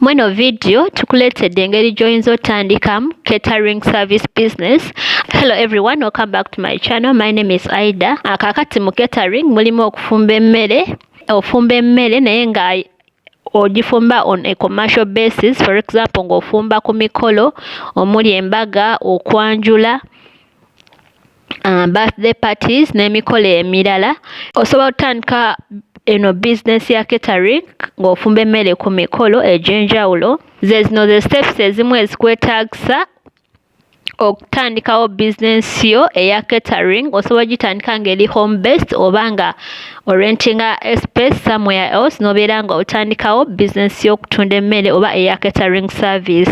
Mweno video tukuletedde engeri gy'oyinza otandikamu catering service business hello everyone welcome back to my channel my name is aida akakati ah, mu catering mulimu okufumba emmere ofumba emmere naye nga ogifumba on a commercial basis for example ng'ofumba ku mikolo omuli embaga okwanjula birthday parties n'emikolo emirala osobola otandika eno bizinesi ya catering ng'ofumba emmere ku mikolo egy'enjawulo zezino ze steps ezimu ezikwetaagisa okutandikawo bizinesi yo eya catering osobola ogitandika ng'eri home based oba nga orentinga space somewhere else n'obeera nga otandikawo bizinesi y'okutunda emmere oba eya catering service.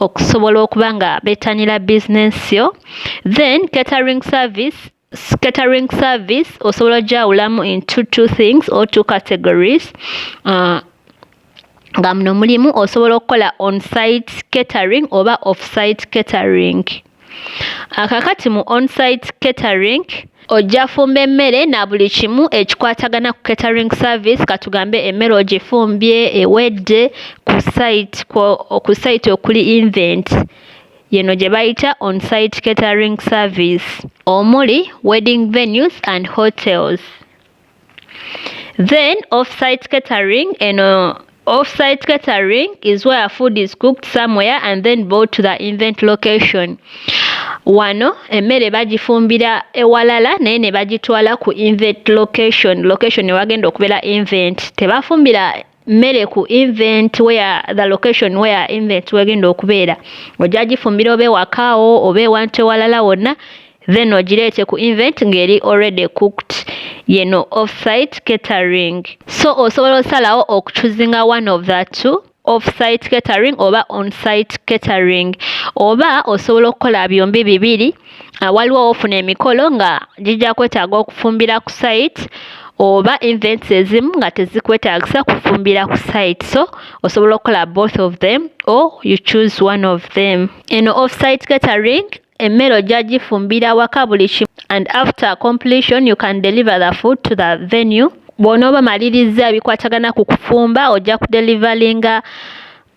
okusobola okuba nga betanira business yo then catering service catering service osobola ogyawulamu into two things or two categories uh, nga muno mulimu osobola okukola on site catering oba off site catering Akakati mu on-site catering ojja fumba emmere na buli kimu ekikwatagana ku catering service katugambe emmere ogifumbye ewedde ku site ku site okuli invent yeno gye bayita on-site catering service omuli wedding venues and hotels. Then offsite catering and uh, offsite catering is where food is cooked somewhere and then brought to the event location. Wano emmere bagifumbira ewalala naye ne bagitwala ku event location location ewagenda okubeera event tebafumbira mmere ku event where the location where event wegenda okubeera ojja gifumbira oba ewakaawo oba ewantu ewalala wonna then ogireete ku event ng'eri already cooked yeno offsite catering so osobola osalawo okuchuzinga one of the two offsite catering oba onsite catering oba osobola okukola byombi bibiri ah, waliwo wofuna emikolo nga gijja kwetaaga okufumbira ku site oba events ezimu nga tezikwetaagisa kufumbira ku site so osobola okukola both of them or you choose one of them eno offsite catering emmere ojja gifumbira waka buli kimu and after completion you can deliver the food to the venue bw'onooba malirizza ebikwatagana ku kufumba ojja kudelivalinga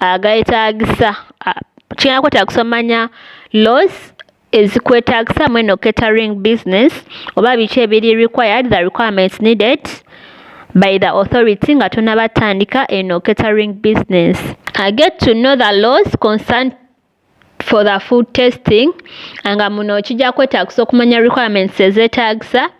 ageetaagisa kiyina kwetaagisa omanya laws ezikwetaagisa mu eno catering business oba biki ebiri required the requirements needed by the authority nga tonaba tandika eno catering business. I get to know the laws concerned for the food testing nga muno kijja kwetaagisa okumanya requirements ezeetaagisa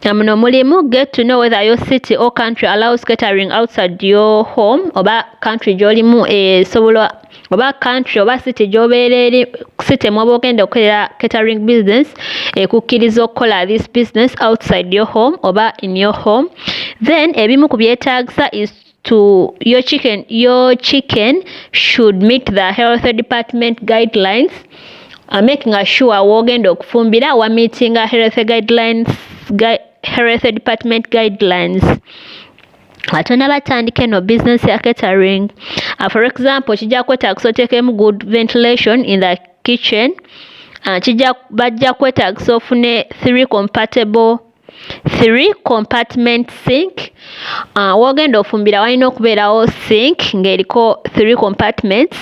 nga muno mulimu get to know whether your city or country allows catering outside your home oba country gy'olimu esobola oba country oba city gy'obeera eri city mwoba ogenda okukolera catering business ekukkiriza okukola this business outside your home oba in your home then ebimu ku byetaagisa is to your chicken your chicken should meet the health department guidelines uh, making sure wogenda okufumbira wa meeting a health guidelines gui health department guidelines atona batandika eno business ya catering uh, for example kijja kwetaagisa oteekemu good ventilation in the kitchen uh, kijja bajja kwetaagisa ofune three compatible three compartment sink uh, wogenda ofumbira walina okubeerawo sink ng'eriko three compartments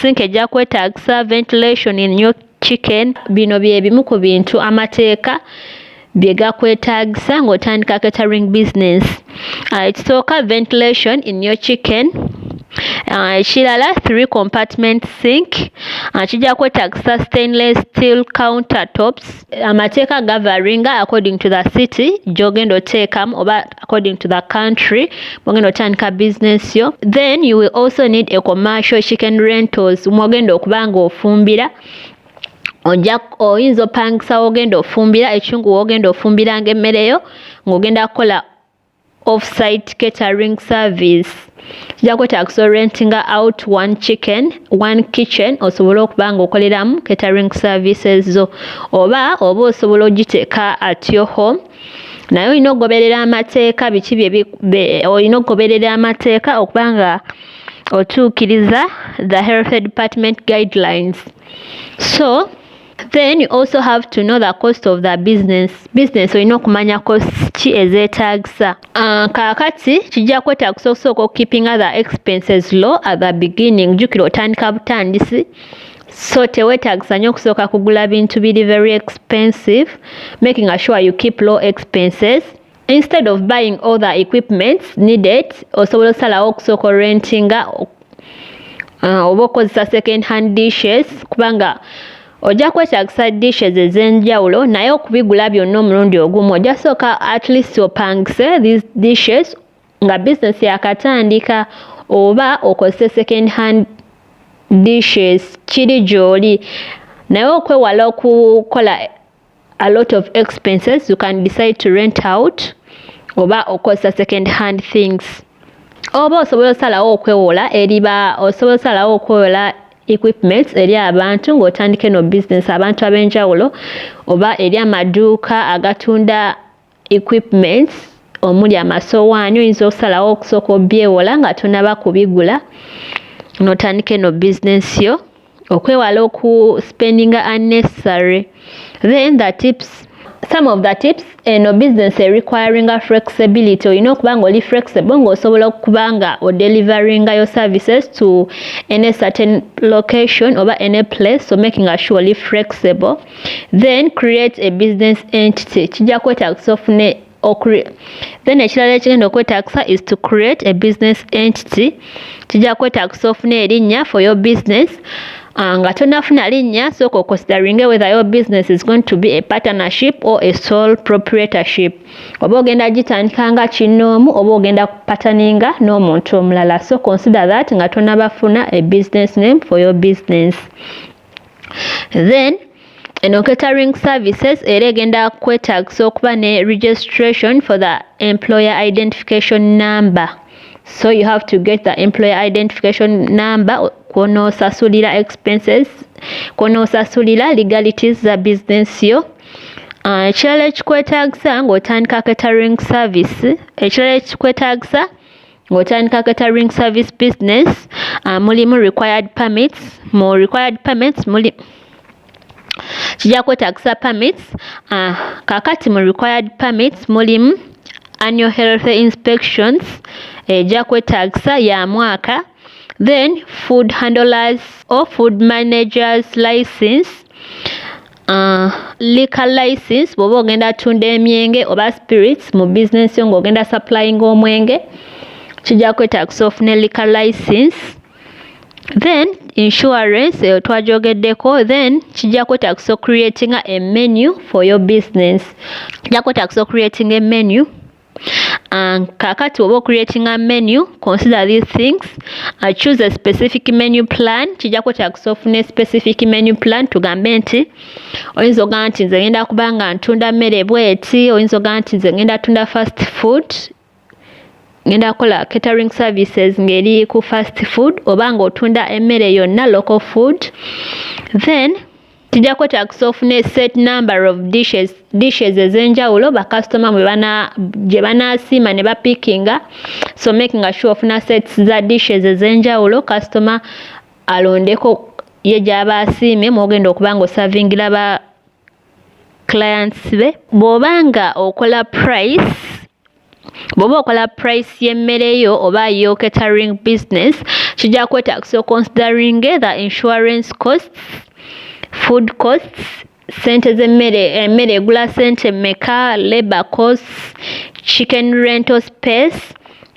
sink ejja kwetaagisa ventilation in your chicken bino bye bimu ku bintu amateeka bye gakwetaagisa ng'otandika catering business uh, ekisooka uh, ventilation in your chicken Ah, ekirala three compartment sink ah, kijja kwetaagisa stainless steel counter tops amateeka gavaringa according to the city gyogenda oteekamu oba according to the country mwogenda otandika business yo then you will also need a commercial chicken rentals mwogenda okuba nga ofumbira ojja oyinza opangisa wogenda ofumbira ekiungu wogenda ofumbiranga emmere yo ng'ogenda kukola off-site catering service kijja kwetaagisa orentinga out one chicken one kitchen osobole okuba nga okoleramu catering services zo oba oba osobola ogiteeka at your home naye olina okugoberera amateeka biki olina okugoberera amateeka okuba nga otuukiriza the health department guidelines so then you also have to know the cost of the business business olina okumanya cost ki ezeetaagisa uh, kaakati kijja kwetaagisa okusooka okukipinga the expenses low at the beginning jjukira otandika butandisi so teweetagisa nnyo okusooka kugula bintu biri very expensive making sure you keep low expenses Instead of buying all the equipments needed, osobola osalawo okusooka orentinga uh, oba okozesa second hand dishes kubanga ojja kwetagisa dishes ez'enjawulo naye okubigula byonna omulundi ogumu ojja sooka at least opangise these dishes nga business yakatandika oba okozese second hand dishes kiri gy'oli naye okwewala okukola a lot of expenses you can decide to rent out oba okozesa second hand things oba osobola osalawo okwewola eriba osobola osalawo okwewola equipments eri abantu ng'otandike no business abantu ab'enjawulo oba eri amaduuka agatunda equipments omuli amasowaani oyinza okusalawo okusooka obyewola nga tonaba kubigula notandika eno business yo okwewala oku spendinga unnecessary then the tips some of the tips eno business erequiringa flexibility olina okuba nga oli flexible ngaosobola okuba nga odeliveringa yo services to any certain location oba any place so making assure oli flexible then create a business entity kijja kwetagisa ofune then ekirala ekigenda okwetagisa is to create a business entity kijja kwetagisa ofune erinnya for your business ah, nga tonafuna linnya sooka oconsideringe whether your business is going to be a partnership or a sole proprietorship oba ogenda gitandika nga kinnoomu oba ogenda kupataninga n'omuntu omulala so consider that nga tonabafuna a business name for your business then eno catering services era egenda kwetagisa okuba ne registration for the employer identification number so you have to get the employer identification number kwonosasulira expenses kwonosasulira legalities za business yo ah, ekirala ekikwetagisa ng'otandika catering service ekirala ekikwetagisa ng'otandika catering service business uh, mulimu required permits mu required permits muli kijja kwetagisa permits uh, kakati mu required permits mulimu annual health inspections ejja eh, kwetagisa ya mwaka then food handlers or food managers license Uh, liquor license bwoba ogenda atunda emyenge oba spirits mu business yo ng'ogenda supplying omwenge kijja kwetagisa ofune liquor license then insurance eyo twajogeddeko then kijja kwetagisa ocreatinga emenu for your business kijja kwetagisa ocreatinga emenu Um, kakati oba ocreatinga menu consider these things uh, choose a specific menu plan kijja kwetagisa ofuna specific menu plan tugambe nti oyinza ogamba nti nze ngenda kuba nga ntunda mmere bweti oyinza ogamba nti nze ngenda tunda fast food ngenda kola catering services ngeri ku fast food oba nga otunda emmere yonna local food then Tujako tax of ne set number of dishes dishes ezenjawulo ba customer mwe bana je bana sima ne ba pickinga so making a sure of na sets za dishes ezenjawulo customer alondeko ye jaba asime mwogenda okubango serving laba clients be bobanga okola price Bw'oba okola price y'emmere yo oba yo catering business kijja kwetaagisa okonsideringe the insurance costs, food costs, ssente z'emmere emmere egula ssente mmeka, labour costs, chicken rental space,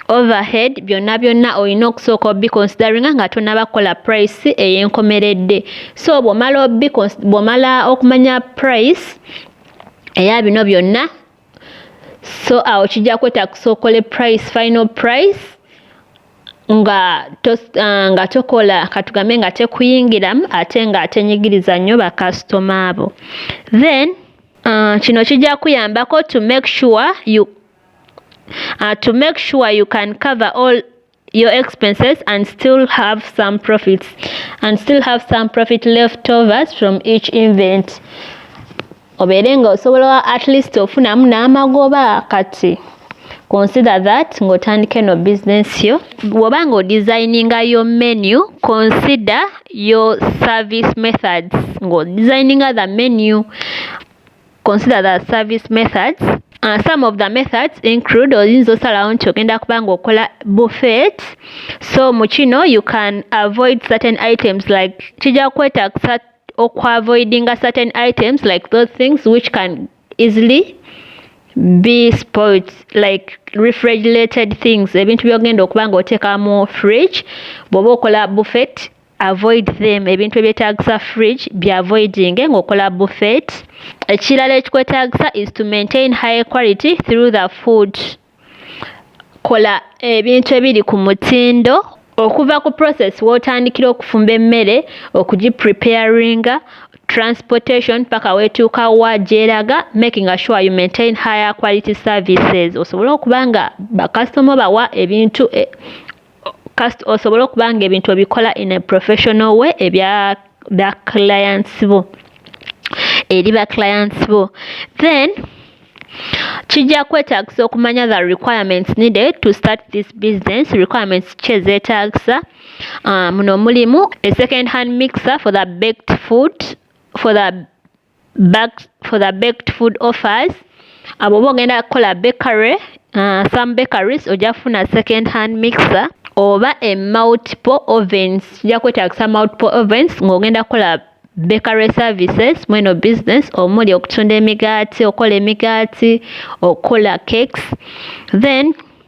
overhead byonna byonna olina okusooka obikonsideringa nga tonaba kukola price ey'enkomeredde. So bw'omala bw'omala okumanya price eya bino byonna so awo kijja kwetakusa okole price final price nga to, uh, nga tokola katugambe nga tekuyingiramu ate nga atenyigiriza nnyo bakasitoma abo then uh, kino kijja kuyambako to make sure you uh, to make sure you can cover all your expenses and still have some profits and still have some profit left overs from each event obeere nga osobola at least ofunamu n'amagoba kati consider that ng'otandika eno business yo bwoba nga odesigninga yo menu consider your service methods ng'odesigninga the menu Consider the service methods. Uh, some of the methods include oyinza osalawo nti ogenda kuba ng'okola buffet so mu kino you can avoid certain items like kijja kwetagisa okuavoidinga certain items like those things which can easily be spoilt like refrigerated things ebintu byogenda okuba ng'oteeka mu fridge bw'oba okola buffet avoid them ebintu ebyetaagisa fridge bya avoidinge ng'okola buffet ekirala ekikwetaagisa is to maintain high quality through the food kola ebintu ebiri ku mutindo okuva ku process w'otandikira okufumba emmere okugipreparinga transportation paka weetuuka wa gyeraga making assure you maintain higher quality services osobole okuba nga bakasitoma bawa ebintu e, kasita osobole okuba nga ebintu obikola in a professional way ebya ba clients bo eri ba clients bo then kijja kwetaagisa okumanya the requirements needed to start this business requirements ki ezeetaagisa ah, muno mulimu a second hand mixer for the baked food for the bags for the baked food offers abo oba ogenda kukola bakery uh, some bakeries ojja kufuna second hand mixer oba e multiple ovens kijja kwetagisa multiple ovens ng'ogenda kukola bakery services mweno business omuli okutunda emigaati okola emigaati okola cakes then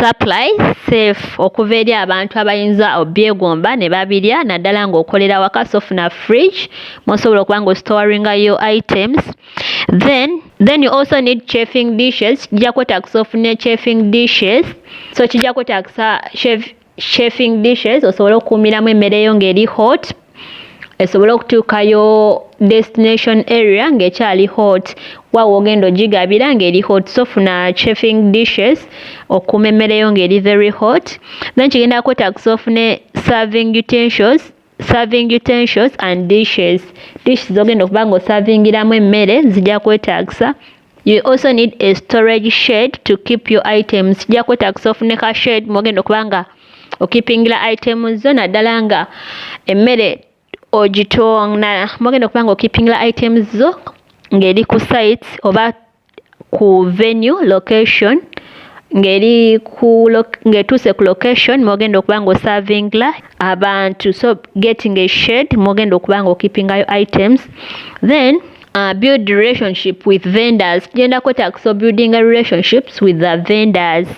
Supply safe okuva eri abantu abayinza obyegomba ne babirya naddala ng'okolera awaka so funa fridge mw'osobola okuba ng'ositowaringa yo items then then you also need chafing dishes kijja kwetaagisa ofune chafing dishes so kijja kwetaagisa chafing dishes osobole okukuumiramu emmere yo ng'eri hot esobole okutuukayo destination area ng'ekyali hot wa woogenda ogigabira ng'eri hot so funa chafing dishes okukuuma emmere yo ng'eri very hot then kigenda kwetagisa ofune serving utentials Serving utensils and dishes. Dish zogenda okuba nga osavingiramu emmere zijja kwetaagisa. You also need a storage shed to keep your items. Kijja kwetaagisa ofune ka shed mwogenda okuba nga okipingira items zo naddala nga emmere ogitonda mwogenda okuba nga okipingira items zo ng'eri ku sites oba ku venue location ng'eri ku ng'etuuse ku location mw'ogenda okuba ng'oservingla abantu so getting a shade mw'ogenda okuba ng'okeepingayo items then uh, build relationship with vendors tugenda kwetagisa obuildinga relationships with the vendors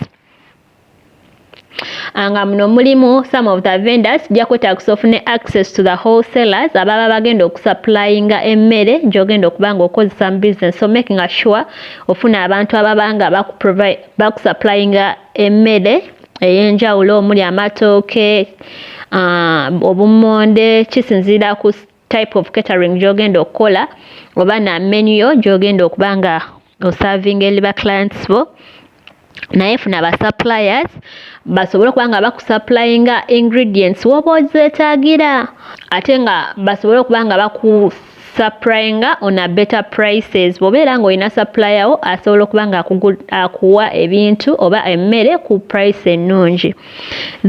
nga muno mulimu some of the vendors kijja kwetaagisa ofune access to the wholesalers ababa bagenda okusupplyinga emmere gy'ogenda okuba nga okozesa mu business so making sure ofuna abantu ababa nga bakusupplyinga emmere ey'enjawulo omuli amatooke ah, obummonde kisinziira ku type of catering gy'ogenda okukola oba na menu yo gy'ogenda okuba nga osavinga eli ba clients bo naye funa ba suppliers basobole okuba nga bakusupplyinga ingredients woba ozeetagira ate nga basobole okuba nga baku supplyinga on a better prices bwobeera nga olina supplier wo asobola okuba nga akuwa ebintu oba emmere ku price ennungi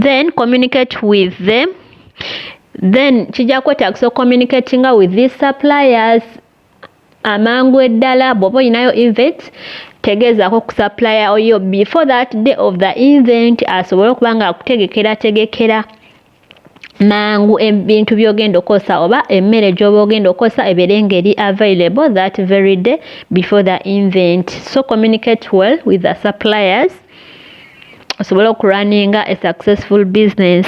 then communicate with them then kijja kwetagisa ocommunicatinga with these suppliers amangu eddala bwoba olinayo event tegeezaako kusupplier oyo before that day of the event asobole okuba nga akutegekera tegekera mangu ebintu byogenda okozesa oba emmere gyoba ogenda okozesa ebeere ngeri available that very day before the event so communicate well with the suppliers osobole okurunninga a successful business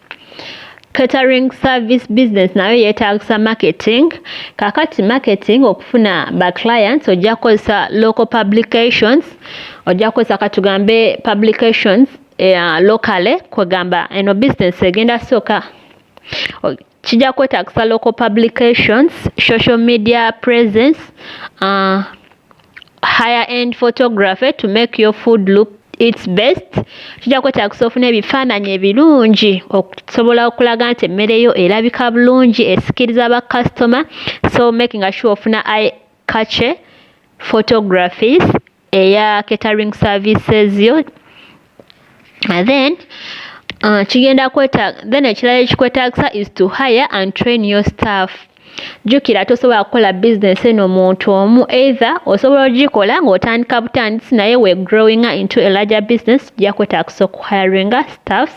Catering service business nayo yeetaagisa marketing. Kakati marketing okufuna ba clients ojja kukozesa local publications, ojja kukozesa katugambe publications uh, locally kwegamba eno business egenda sooka kijja kwetaagisa local publications, social media presence uh, higher end photography to make your food look its best kijja kwetagisa ofuna ebifaananyi ebirungi okusobola okulaga nti emmere yo erabika bulungi esikiriza ba customer so making sure ofuna i kace photographies eya catering services yo then uh, kigenda kweta then ekirala ekikwetagisa is to hire and train your staff jjukira tosobola kukola bizinesi eno omuntu omu either osobola ogikola ng'otandika butandisi naye we growing into a larger business jja kwetagisa okuhiringa staffs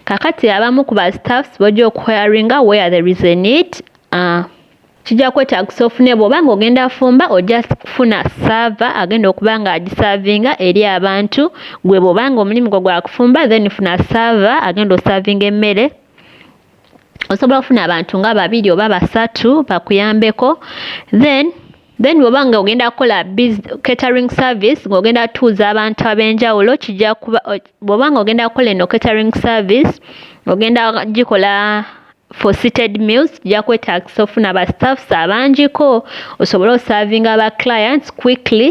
kakati abamu ku ba staffs bojja okuhiringa where there is a need uh, kijja kwetaagisa ofune bw'oba ng'ogenda afumba ojja kufuna saava agenda okuba ng'agisaavinga eri abantu gwe bw'oba ng'omulimu gwo gwa kufumba then funa saava agenda osaavinga emmere osobola okufuna abantu nga babiri oba basatu bakuyambeko then then bwoba nga ogenda kukola catering service ng'ogenda tuuza abantu ab'enjawulo kijja kuba bwoba nga ogenda kukola eno catering service ogenda gikola For seated meals tujja kwetaagisa ofuna ba staffs abangiko osobole osaavinga ba clients quickly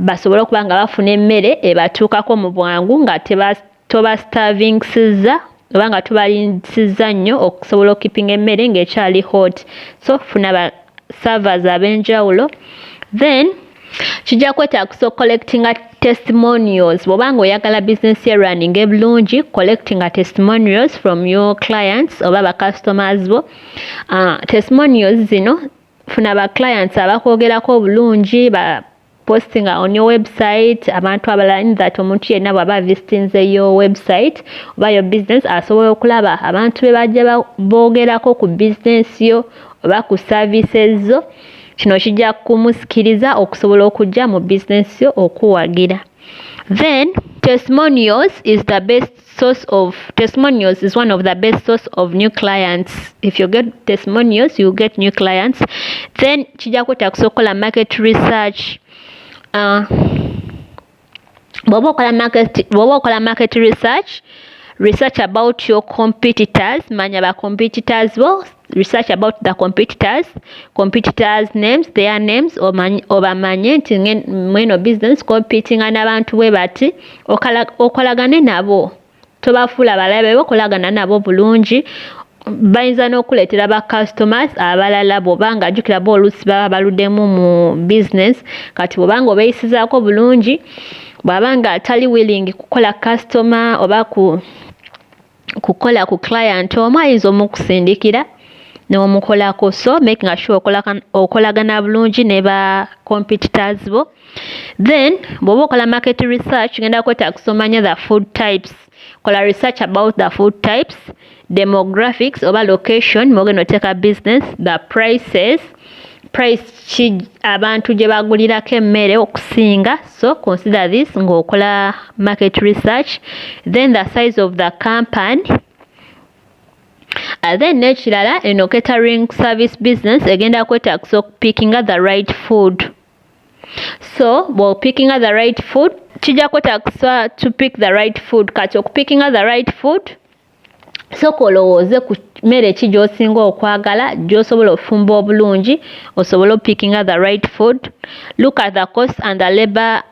basobole okuba nga bafuna emmere ebatuukako mu bwangu nga toba starvingsiza oba nga tubalinsiza nnyo okusobola okukipinga emmere ng'ekyali hot so funa ba servers ab'enjawulo then kijja kwetaagisa okucollectinga testimonials bwoba nga oyagala bizinesi ye running ebulungi collectinga testimonials from your clients oba bacustomers bo uh, testimonials zino funa ba clients abakwogerako obulungi ba postinga on your website abantu abalala in that omuntu yenna bwaba visitinze your website oba your business asobola okulaba abantu be bajja boogerako ku bizinesi yo oba ku services zo Kino kijja kumusikiriza okusobola okujja mu business yo okuwagira. Then testimonials is the best source of testimonials is one of the best source of new clients. If you get testimonials, you get new clients. Then kijja kwetaagisa okukola market research. Uh, bwoba okola market bwoba okola market research research about your competitors manya ba competitors bo research about the competitors competitors names their names obamanye nti mweno business competinga n'abantu bwe bati okolagane nabo Tobafuula balabe bo, kolagana nabo bulungi. Bayinza n'okukuleetera ba customers abalala bw'oba nga jjukira bo oluusi baba baludemu mu business. Kati bw'oba nga obeeyisizaako bulungi, bw'aba nga tali willing kukola customer oba ku kukola ku client omu ayinza omukusindikira n'omukolako. So making sure okolagana bulungi ne ba competitors bo. then bwoba okola market research genda kwetagisa omanya the food types kola research about the food types demographics oba location mogenda oteeka business the prices price ki abantu gye bagulirako emmere okusinga so consider this ng'okola market research then the size of the company uh, then n'ekirala eno catering service business egenda kwetaagisa okupikinga the right food so bwopickinga the right food kijja kwetaagisa to pick the right food kati okupickinga the right food soka olowooze ku mmere ki gy'osinga okwagala gy'osobola ofumba obulungi osobole opickinga the right food look at the cost and the labor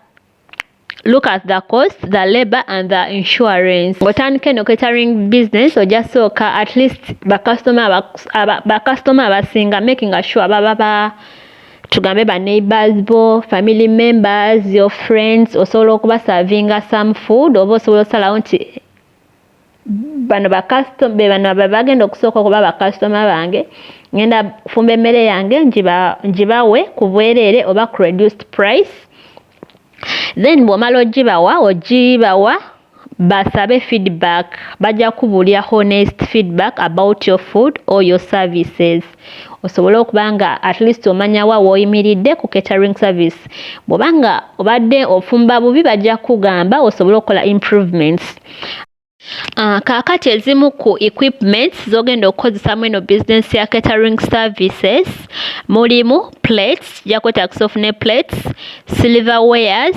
look at the cost the labor and the insurance ngotandika eno catering business oja sooka at least bakasitoma abasinga making sure baba ba tugambe ba neighbors bo family members your friends osobola okubasavinga some food oba osobola osalawo nti bano bakasito be bano be bagenda okusooka okuba bakasitoma bange ngenda fumba emmere yange ngibawe ku bwereere oba ku reduced price then bw'omala ogibawa ogibawa basabe feedback bajja kubulya honest feedback about your food or your services osobole okuba nga at least omanya wa woyimiridde ku catering service bwoba nga obadde ofumba bubi bajja kugamba osobole okukola improvements Uh, kaakati ezimu ku equipments zogenda okukozesa mu eno business ya catering services mulimu plates jakwetagisa ofune plates silver wares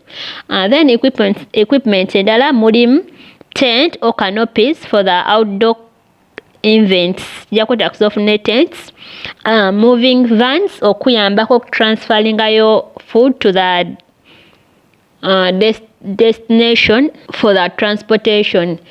Uh, then equipment, equipment endala mulimu tent or canopies for the outdoor invents ja kwetaagisa ofune tents uh, moving vans okuyambako okutransferingayo food to the uh, des destination for the transportation